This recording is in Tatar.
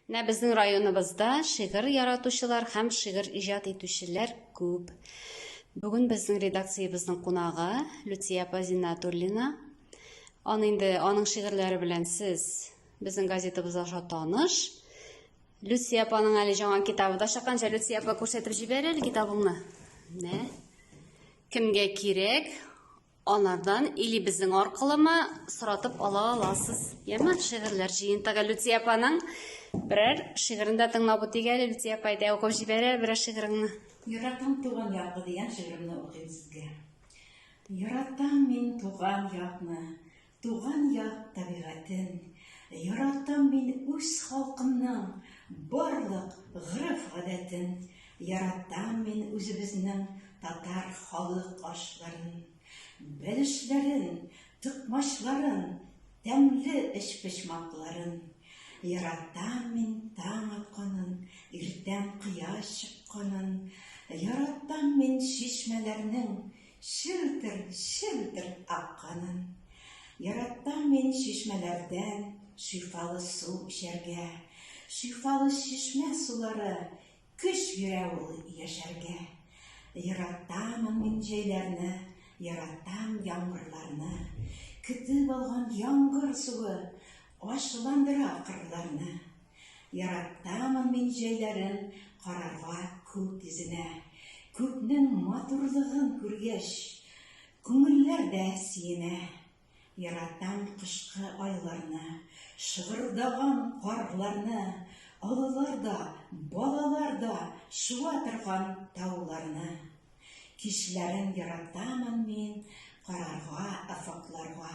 Менә безнең районыбызда шигырь яратучылар һәм шигырь иҗат итүчеләр күп. Бүген безнең редакциябезнең кунагы Люция апа Зиннатуллина. Аны инде аның шигырьләре белән сез безнең газетабыз аша таныш. Люция апаның әле жаңа китабы да чыкканча Люция апа күрсәтеп җибәр әле китабыңны. Менә. Кемгә кирәк? Анардан илебезнең аркылымы соратып ала аласыз. Яме шигырьләр җыентыгы Лүтия апаның берәр шигырен дә тыңлап үтик әле. Лүтия апа әйдә укып җибәрә берәр шигыреңне. Яратам туган якны дигән шигыремне укыйм сезгә. Яратам мин туган якны. Туган як табигатен яратам мин үз халкымның барлык гырыф гадәтен яратам мин үзебезнең татар халык ашларын бәлешләрен токмачларын тәмле эчпочмакларын яратам мин таң атканын иртән кояш чыкканын яратам мин чишмәләрнең Челтер-челтер акканын. Яратам мин чишмәләрдән шифалы су эчәргә. Шифалы чишмә сулары көч бирә ул яшәргә. Яратамын мин җәйләрне, яратам яңгырларны. Көтеп алган яңгыр суы ачуландыра кырларны. Яратамын мин җәйләрен карарга күк йөзенә. Күкнең матурлыгын күргәч, күңелләр дә сөенә. Яратам кышкы айларны, шыгырдаган карларны, олылар да, балалар да шуа торган тауларны. Кичләрен яратамын мин карарга офыкларга.